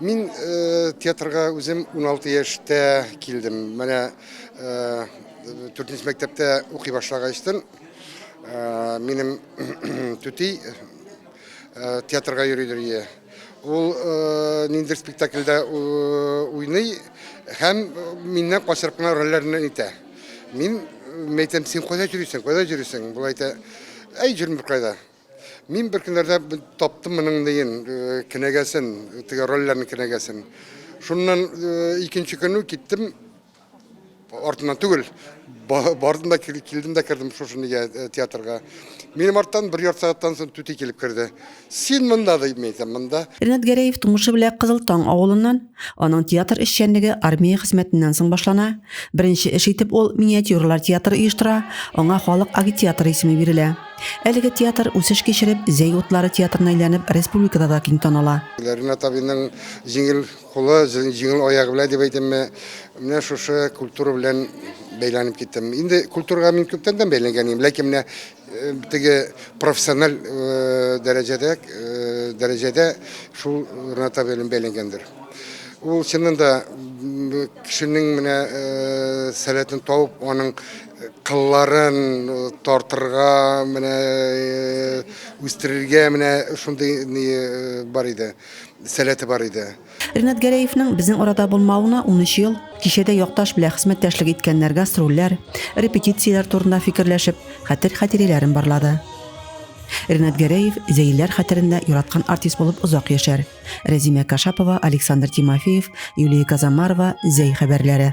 Мин театрга үзем 16 яшьтә килдем. Менә 4 нче мәктәптә укый башлагачтын минем түти театрга йөридер ие. Ул ниндер спектакльдә уйный һәм миннән качырып кына рольләрне әйтә. Мин әйтәм, син кайда йөрисең, кайда йөрисең? Бул әйтә, әй, җөрмөр кайда. Мин бер көннәрдә таптым моның диен кенәгәсен, теге рольләрнең кенәгәсен. Шуннан икенче көнне киттем артыннан түгел, бардым да килдем дә кердем шушы нигә театрга. Минем арттан бер ярты сәгатьтән соң түти килеп керде. Син монда дип мин әйтәм, монда. Ренат Гәрәев тумышы белән Кызыл Таң авылыннан. Аның театр эшчәнлеге армия хезмәтеннән соң башлана. Беренче эш итеп ул миниатюралар театры оештыра, аңа Халык агитаторы исеме бирелә. Әлеге театр, үсеш кичереп, Зәй утлары театрына әйләнеп, республикада да киң таныла. Ринат абыйның җиңел кулы, җиңел аягы белән дип әйтимме, менә шушы культура белән бәйләнеп киттем. Инде культурага мин күптәндән бәйләнгән идем, ләкин менә теге профессиональ дәрәҗәдә, дәрәҗәдә шул Ринат абый белән бәйләнгәндер. Ул чыннан да кешенең менә сәләтен табып, аның Кылларын тартырга, менә үстерергә менә шундый ни бар иде, сәләте бар иде. Ринат Гәрәевның безнең арада булмавына унөч ел. Кичәдә якташ белән хезмәттәшлек иткәннәр гастрольләр, репетицияләр турында фикерләшеп, хәтер-хатирәләрен барлады. Ринат Гәрәев Зәйләр хәтерендә яраткан артист булып озак яшәр. Рәзимә Кашапова, Александр Тимофеев, Юлия Казамарова, Зәй хәбәрләре.